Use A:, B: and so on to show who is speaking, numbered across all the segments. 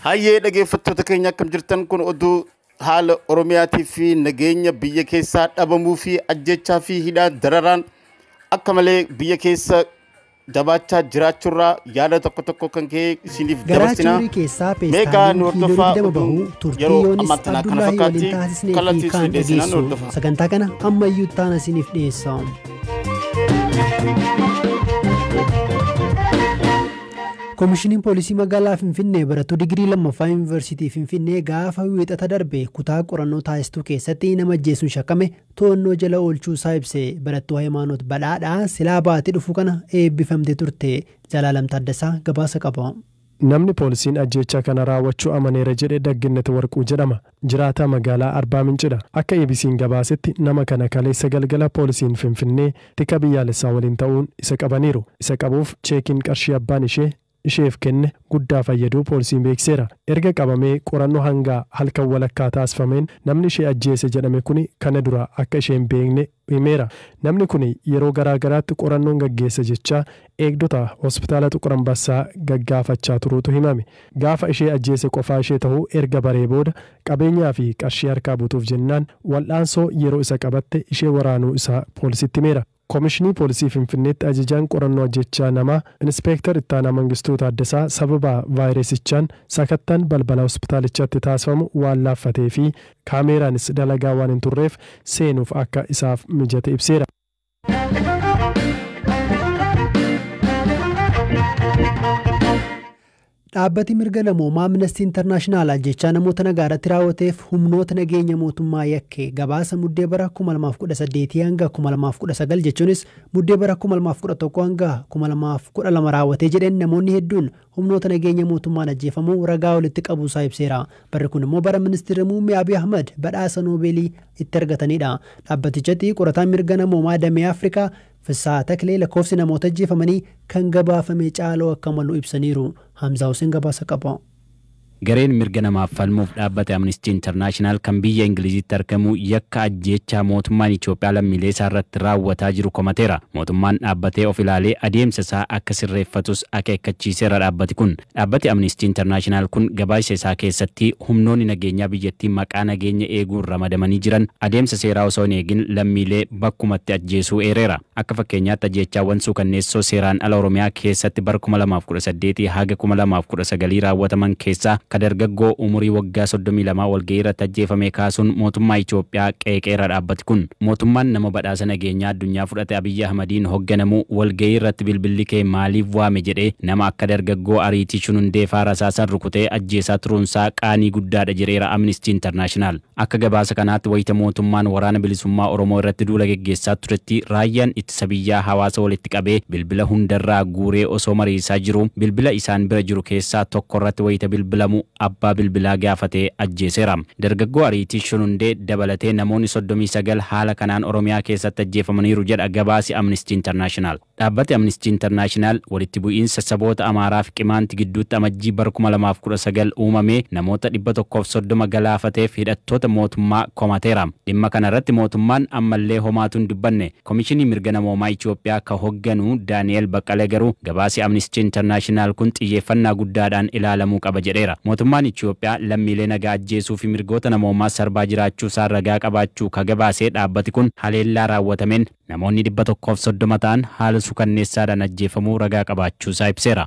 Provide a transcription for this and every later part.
A: Hayyee dhageeffattoota keenya akkam jirtan kun oduu haala Oromiyaatii fi nageenya biyya keessaa dhabamuu fi ajjechaa fi hidhaa dararaan akka malee biyya keessa jabaachaa jiraachuurraa yaada tokko tokko kan ka'e isiniif Garaa dabarsina. Chuurii keessaa Meegaa peestaaliin nu kiiloo hordofaa 20 bahu oduun turtii yeroo Yoonis ammaa tanaa kana Abdullaahii fakkaatti waliin taasisnee fi kallattii kaan isin dhiyeessinaan dhageessu. hordofaa. Sagantaa kana ammayyuu
B: taana isiniif dhiyeessa. Komishiniin Poolisii Magaalaa Finfinnee barattuu digirii lammaffaa Yuunivarsiitii Finfinnee gaafa wiixata darbe kutaa qorannoo taasistuu keessatti nama ajjeesuun shakkame to'annoo jala oolchuu isaa ibse. Barattuu Hayimaanoot Badhaadhaa silaa baatii dhufu kana eebbifamtee turte. Zalaalam Taaddasaa gabaasa qaba. Namni poolisiin
C: ajjeechaa kana raawwachuu amaneera jedhe Dagginnet Warquu jedhama. Jiraataa magaalaa Arbaa Mincidha. Akka EBCn gabaasetti nama kana kaleessa galgala poolisiin Finfinnee tika biyyaalessaa waliin ta'uun isa qabaniiru. Isa qabuuf cheekiin qarshii abbaan ishee isheef kenne guddaa fayyaduu poolsiin beeksiseera. Erga qabamee qorannoo hanga halkan walakkaa taasifameen namni ishee ajjeese jedhame kuni kana dura akka ishee hin beekne himeera. Namni kuni yeroo garaa garaatti qorannoon gaggeessa jechaa eegdota Hospitaala Xuqur Ambassaa gaggaafachaa turuutu himame. Gaafa ishee ajjeese qofaa ishee tahuu erga baree booda qabeenyaa fi qarshii harkaa butuuf jennaan wal'aansoo yeroo isa qabatte ishee waraanuu isaa poolisitti himeera. Komishinii Poolisii Finfinneetti Ajajaan Qorannoo Ajjeechaa Namaa Inispeektar Ittaanaa Mangistuu Taaddasaa sababa vaayirasichaan sakattaan balbala hospitaalichatti taasifamu waan laaffatee fi kaameeraanis dalagaa waan hin turreef seenuuf akka isaaf mijate ibseera.
B: Dhaabbati mirga namoomaa Aminastii Internaashinaal ajjeechaa namoota nagaarratti raawwateef humnoota nageenya mootummaa yakke gabaasa Muddee bara 2018-2019 jechuunis Muddee bara 2011-2012 raawwatee jedheen namoonni hedduun humnoota nageenya mootummaan ajjeefamuu ragaa walitti qabuusaa ibseera. Barri kun immoo bara Ministirri Muummee Abiy Ahmad badhaasa Noobeelii itti argataniidha. Dhaabbatichatti qorataan mirga namoomaa damee Afrikaa Fissahaa Taklee lakkoofsi namoota ajjeefamanii kan gabaafame caaluu akka malu ibsaniiru. Hamzaa Huseen gabaasa qaba. Gareen
D: mirga namaaf falmuuf dhaabbate Amnistii Intarnaashinaal kan biyya Ingiliziitti argamu yakka ajjeechaa mootummaan Itoophiyaa lammiilee isaa irratti raawwataa jiru komateera. Mootummaan dhaabbatee of ilaalee adeemsa isaa akka sirreeffatus akeekkachiiseera dhaabbati kun. Dhaabbati Amniistii Internaashinaal kun gabaaysa isaa keessatti humnoonni nageenyaa biyyattii maqaa nageenya eeguun ramadamanii jiran adeemsa seeraa osoo hin eegin lammiilee bakkumatti ajjeesuu eereera. Akka fakkeenyaatti ajjeechaawwan suukanneessoo seeraan ala Oromiyaa keessatti bara 2018 haga 2019 raawwataman keessaa ka dargaggoo umurii waggaa 32 walgahii irratti ajjeefamee kaasuun mootummaa Itoophiyaa qeeqeera dhaabbati kun. Mootummaan nama badhaasa nageenyaa addunyaa Ati Abiyyi Ahmadiin hogganamu walgahii irratti bilbilli kee maaliif waame jedhee nama akka dargaggoo Ariitii Shunundee faa rasaasan rukutee ajjeesaa turuun isaa qaanii guddaa dha jedheera Amnesty International. Akka gabaasa kanaatti wayita mootummaan Waraana Bilisummaa Oromoo irratti duula geggeessaa turetti raayyaan ittisa biyyaa hawaasa walitti qabee bilbila hunda irraa guuree osoo mariisaa jiruu bilbila isaan bira jiru keessaa tokko irratti wayita bilbilamu abbaa bilbilaa gaafatee ajjeeseera. Dargaggoo Ariitii Shunundee dabalatee namoonni 39 haala kanaan Oromiyaa keessatti ajjeefamaniiru jedha gabaasi Amnesty International. Dhaabbati Amnesty International walitti bu'iinsa saboota Amaaraa fi Qimaanti gidduutti Amajjii bara 2019 uumamee namoota 130 galaafateef hidhattoota mootummaa komateera. Dhimma kana irratti mootummaan ammallee homaatu hin dubbanne. Komishinii Mirga Namoomaa Itiyoophiyaa ka hogganu Daani'eel Baqqalee garuu gabaasi Amnistii Intarnaashinaal kun xiyyeeffannaa guddaadhaan ilaalamuu qaba jedheera. Mootummaan Itiyoophiyaa lammiilee nagaa ajjeesuu fi mirgoota namoomaa sarbaa jiraachuusaa ragaa qabaachuu ka gabaase dhaabbati kun, haleellaa raawwatameen namoonni 130 ta'an haala sukanneessaadhaan ajjeefamuu ragaa qabaachuusaa ibseera.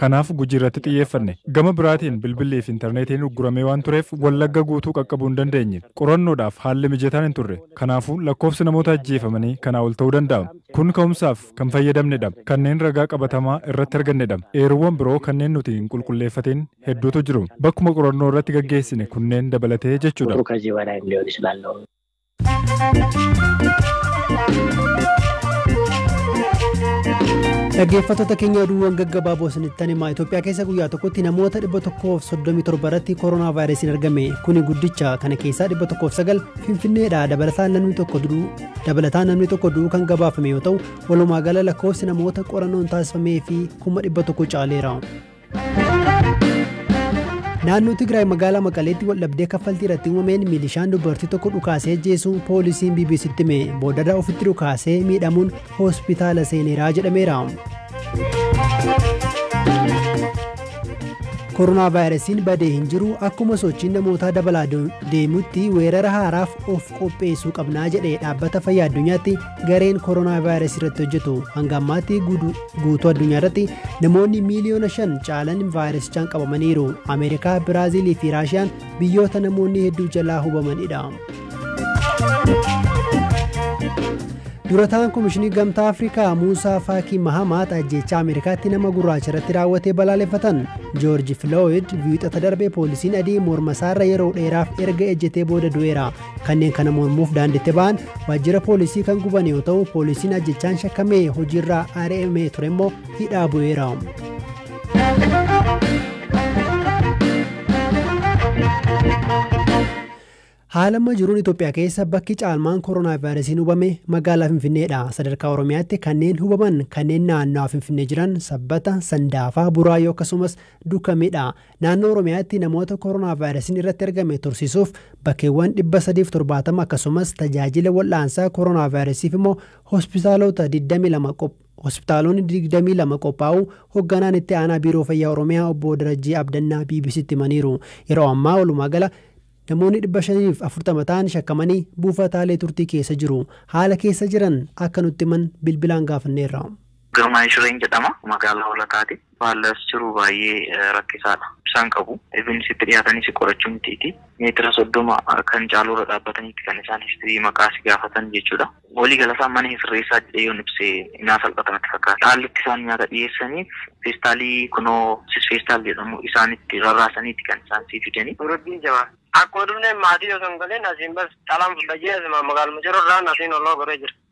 C: Kanaaf Gujiirratti xiyyeeffanne. Gama biraatiin bilbilliifi intarneetiin ugguramee waan tureef Wallagga guutuu qaqqabuu hin dandeenye. Qorannoodhaaf haalli mijataan hin turre. Kanaafuu lakkoofsi namoota ajjeefamanii kanaa ol ta'uu danda'a. Kun ka'umsaaf kan fayyadamnedha. Kanneen ragaa qabatamaa irratti argannedha. Eeruuwwan biroo kanneen nuti hin qulqulleeffatiin hedduutu jiru. Bakkuma qorannoo irratti gaggeessine kunneen dabalatee jechuudha.
B: Dhaggeeffattoota keenya oduuwwan gaggabaaboo isinitti himaa Itoophiyaa keessa guyyaa tokkotti namoota 137 irratti koronaa vaayirasiin argame kuni guddicha kana keessaa 109 finfinneedha dabalataan namni tokko du'uu dabalataan namni tokko du'uu kan gabaafame yoo ta'u walumaa gala lakkoofsi namoota qorannoon taasifamee fi 100 caaleera. Naannoo Tigraay magaalaa Maqaleetti waldhabdee kaffaltii irratti uumameen milishaan dubartii tokko dhukaasee ajjeesuu poolisiin BBCtti hime boodarra ofitti dhukaasee miidhamuun hospitaala seeneeraa jedhameera. Koronaa vaayirasiin badee hin jiru akkuma sochiin namootaa dabalaa deemutti weerara haaraaf of qopheessuu qabnaa jedhe dhaabbata fayyaa addunyaatti Gareen koronaavaayirasii irratti hojjetu hanga ammaatti guutuu addunyaa irratti namoonni miiliyoona shan caalan vaayirasichaan qabamaniiru. Ameerikaa, Biraaziilii fi Raashiyaan biyyoota namoonni hedduu jalaa hubamanidha. Durataan Komishinii Gamtaa Afrikaa Muusaa Faakii Mahamaat ajjeechaa Ameerikaatti nama gurraacha irratti raawwatee balaaleffatan. Joorji Filooyid wiixata darbe poolisiin adii morma isaarra yeroo dheeraaf erga ejjetee booda du'eera. Kanneen kana mormuuf daandiitti ba'an waajjira poolisii kan guban yoo ta'u poolisiin ajjechaan shakkamee hojiirraa ari'amee ture immoo hidhaa bu'eera. Haala amma jiruun Itoophiyaa keessa bakki caalmaan koronaavaayirasiin hubame magaalaa Finfinneedha. Sadarkaa Oromiyaatti kanneen hubaman kanneen naannawaa Finfinnee jiran sabbata, sandaafaa, buraayyoo akkasumas dukameedha. Naannoo Oromiyaatti namoota koronaavaayirasiin irratti argame tursiisuuf bakkeewwan 370 akkasumas tajaajila wal'aansaa koronaavaayirasiif immoo hospitaalota 22 qop hospitaalonni 22 qophaa'uu hogganaan itti aanaa Biiroo Fayyaa Oromiyaa obbo Darajjee Abdannaa BBCtti himaniiru. Yeroo ammaa walumaa gala namoonni 540 ta'an shakkamanii buufataalee turtii keessa jiru. Haala keessa jiran akka nutti himan bilbilaan gaafanneerra. Girmaay Shireen
E: jedhama. Magaalaa Hoolataati. Haalli as jiru baay'ee rakkisaadha. Ibsaa hin qabu. Even sitti dhiyaatanii si qorachuu mitiiti. Meetira soddoma kan caaluurra dhaabbataniiti kan isaan history maqaa si gaafatan jechuudha. Walii galasaa mana hin sirreessaa jedhee yoon ibse naa salphata natti fakkaata. Haalli itti isaan nyaata dhiyeessaniif feestaalii kunoo sis feestaal jedhamu isaanitti rarraasaniiti kan isaan sii fidanii. Nuraddiin Jamaal.
F: Akkuma dhufneen maatii osoo hin galiin asiin bas xalaan fudha jee asumaan magaaluma jirurraan asiin holloo goree jira.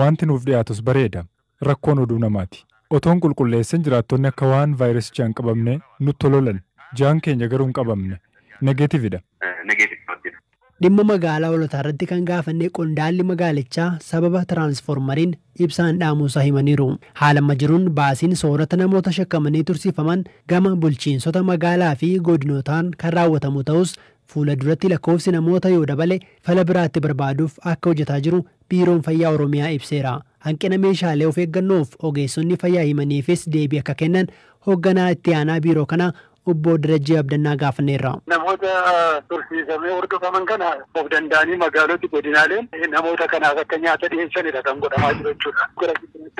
G: Waanti nuuf dhiyaatus bareeda. Rakkoon oduu namaati. Otoon qulqulleessin jiraattonni akka waan vaayirasichaan qabamnee nutti hololan. Jaan keenya garuu hin qabamne. Negative dha.
B: Dhimma magaalaa Hoolotaarratti kan gaafanne qondaalli magaalichaa sababa tiraansfoormariin ibsaa hin dhaamuusaa himaniiru. Haala amma jiruun baasiin soorata namoota shakkamanii tursiifaman gama bulchiinsota magaalaa fi godinootaan kan raawwatamu ta'us fuula duratti lakkoofsi namoota yoo dabale fala biraa itti barbaaduuf akka hojetaa jiru Biiroon Fayyaa Oromiyaa ibseera. Hanqina meeshaalee of eeggannoof ogeessonni fayyaa himaniifis deebii akka kennan Hogganaa Itti Aanaa Biiroo kanaa Obboo Darajjee Abdannaa gaafanneerra. Namoota
H: tursiisamee hordofaman kana of danda'anii magaaloti, godinaaleen namoota kanaaf akka nyaata dhiheessanidha kan godhamaa jiru jechuudha.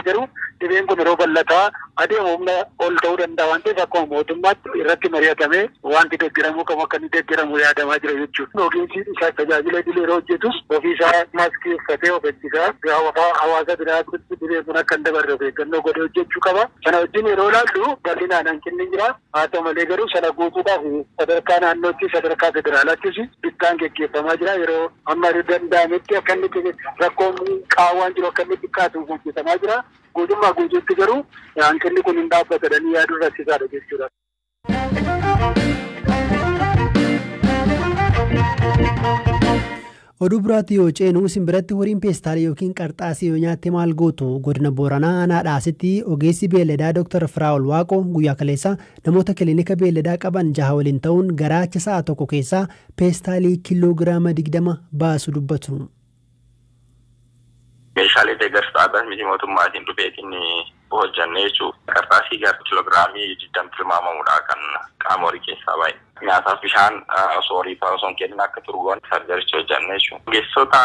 H: Garuu dhibeen kun yeroo bal'ataa adeemu humna ol ta'uu danda'a waan ta'eef akkuma mootummaatti irratti mari'atamee waanti deggeramuu qabu akka inni deggeramu yaadamaa jira jechuudha. Ogeessi isaa tajaajila idilee yeroo hojjetus ofii isaa maaskii uffatee of ittisaa gaafa hawaasa biraatti dhibeen kun akka hin dabarre of eeggannoo godhee hojjechuu qaba. Sana wajjin yeroo ilaallu bal'inaan hanqinni jira. Haa ta'u malee garuu sana guutuudhaaf sadarkaa naannoottis sadarkaa federaalaattis bittaan geggeeffamaa jira. Yeroo amma danda'ametti akka inni rakkoon qaawwaan jiru akka inni xiqqaatu hojjetamaa jira. Guutummaa guutuutti garuu hanqinni kun hin dhaabbata jedhanii yaaduun rakkisaadha jechuudha.
B: Oduu biraatti yoo ceenu isin biratti horiin peestaalii ykn qarxaasii yoo nyaatte maal gootu? Godina Booranaa aanaa Dhaasitti ogeessi beelladaa Dr. Firaa'ol Waaqoo guyyaa kaleessaa namoota kilinika beelladaa qaban jaha waliin ta'uun garaacha sa'a tokko keessaa peestaalii kiiloo giraama 20 baasu dubbatu.
I: Meeshaalee deeggarsa dhaabbat miti mootummaatiin dhufeetiin hojjannee jechuu. Qarxaasii gar kiloogiraamii 20 tilmaamamudha kan qaama horii keessaa bahe. Nyaataaf bishaan osoo horiif osoo hin kennin akka turu goone sarjaricha hojjanne jechuudha. Ogeessota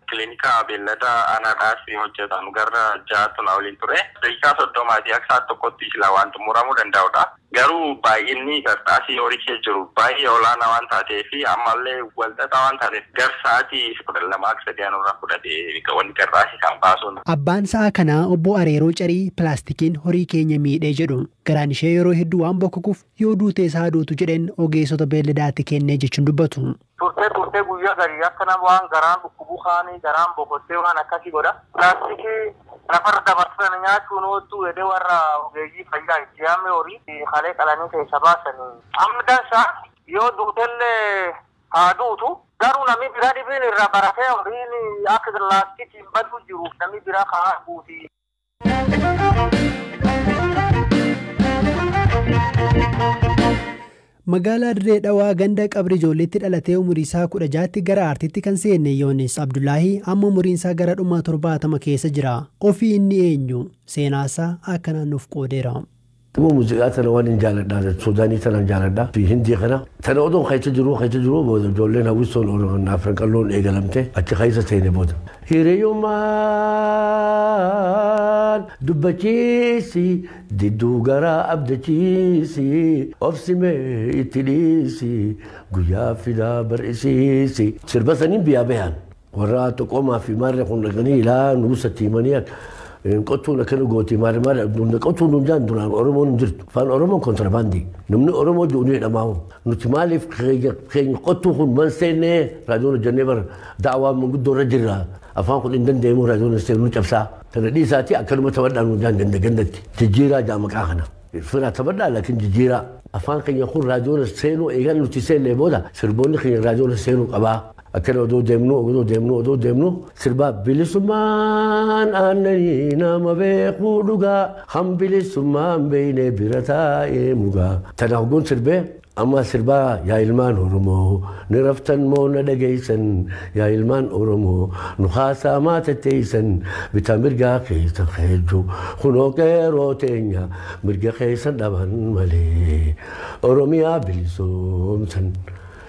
I: kilinika beellada aanaa dhaasii hojjatan garra 6 tun oliin ture. Daqiiqaa 30 ti akka sa'aat tokkotti silaa waan xumuramuu danda'udha. Garuu baay'inni qarxaasii horicha jiru baay'ee olaanaa waan taatee fi ammallee wal xaxaa waan taateef gar sa'aatii 12 haga 3 nurraa fudhate wanni qarxaasii kana baasuun. Abbaan sa'a kanaa
B: Obbo Areeroo Carii pilaastikiin horii keenya miidhe jedhu. Garaan ishee yeroo hedduu waan bokkokuuf yoo duutees haa duutu jedheen ogeessota beelladaatti kenne jechuun dubbatu. Turtee turtee guyyaa
J: garii akka nama waan garaan dhukkubu kaanii garaan bokottee waan akkasii godha. Laastikii lafarra dabartee tana nyaachuun ooltuu jedhee warra ogeeyyii fayyaa itti yaamee horii kalee qalanii keessa baasanii. Amma dansaa yoo duutellee haa duutu. Garuu namii biraa dhibiin irraa baratee horiin akka laastikiin baduu jiruuf namii biraa ka arguuti.
B: Magaalaa Dirree Dhawaa ganda qabri ijoolleetti dhalatee umurii isaa 16tti gara aartiitti kan seenne Yoonis Abdullaahii amma umuriin isaa gara dhuma 70 keessa jira. Ofii inni eenyu? Seenaa isaa akkanaan nuuf qoodeera. Nama muziqaa
K: tana waan hin jaaladhaa jedhu Suudaanii tanan jaaladhaa fi Hindii kana tana odoon keessa jiruu keessa jiruu booda ijoolleen hawwistoon Oromoon Afran qalloon eegalamte achi keessa seene booda. Hiriyummaan dubbachiisi didduu garaa abdachiisi obsimee itti dhiisi guyyaa fidaa bar'isiisi. Sirba saniin biyyaa bahan Warra xoqoomaa fi maarree kun dhaqanii ilaa nuusatti himanii qottuun akkana gootee maarree maarree abduun qottuun nuun jaan duraan Oromoon hin jirtu. Afaan Oromoon kontrabaandii. Namni Oromoo jiru ni jedhamaa'u. Nuti maaliif keenya qottuu kun man seennee raadiyoon hojjannee bara daawaa manguddoo irra jirra. Afaan kun hin danda'amu raadiyoon hin seenu cabsaa. Kana dhiisaatii akkanuma taphadhaa nuun jaan ganda gandatti. Jijjiiraa jaamaqaa kana. Firaa taphadhaa laakiin jijjiiraa. afaan keenya kun raadiyoon seenuu eegan nuti seennee booda sirboonni keenya raadiyoon seenuu qabaa. Akkana odoo deemnuu odoo deemnuu odoo deemnuu sirbaa bilisummaan aannanii nama beekuu dhugaa kan bilisummaan beeknee bira taa'ee mugaa tana hogguun sirbee ammaa sirbaa yaa ilmaan oromoo ni raftan moo na dhageessan yaa ilmaan oromoo nu haasaa maa tetteessan bitaa mirgaa keessan heejju kunoo qeeroo teenya mirga keessan dhaban malee oromiyaa bilisoomsan.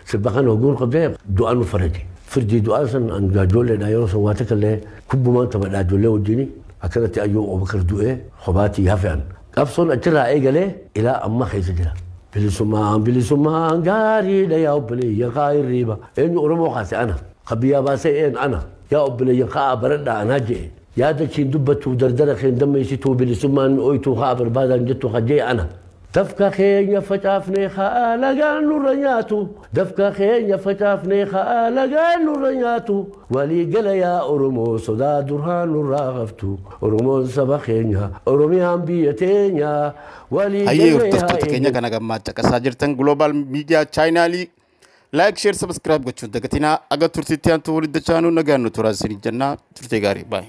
K: Sirba kana oguu hin qabdee du'aa nu farade. Firdii du'aa san an gaajolleedha yeroo san waa takka illee kubbumaan taphadha ijoollee wajjini akkanatti ayyuu Abubakar du'ee hobaatii hafe an. Qabsoon achirraa eegalee ilaa amma keessa jira. Bilisummaan bilisummaan gaariidha yaa obboleeyyan kaa hirriiba. Eenyu Oromoo kaase ana. Ka biyyaa baasee een ana. Yaa obboleeyyan ka'aa baradhaa anaa je'e. Yaada keen dubbattuu dardara keen dammeessituu bilisummaan ooytuu ka'aa barbaadaan jettu ka je'e ana. Dafqa keenya facaafnee ka alagaan nurra nyaatu Dafqa keenya facaafnee ka alagaan nurra nyaatu Walii gala yaa Oromoo sodaa duraa nurraa haftu Oromoon saba keenya Oromiyaan biyya teenya Walii Hayyee gallee haa hordoftoota keenya eeggannu.
A: kan hagammaa caqasaa jirtan Global Media Chaayinaalii Like, Share, Subscribe gochuun dagatinaa. Aga turtiitti aantu walitti dachaanuu nagaan nu turaa isiniin jennaa. Turtee gaarii. Bye.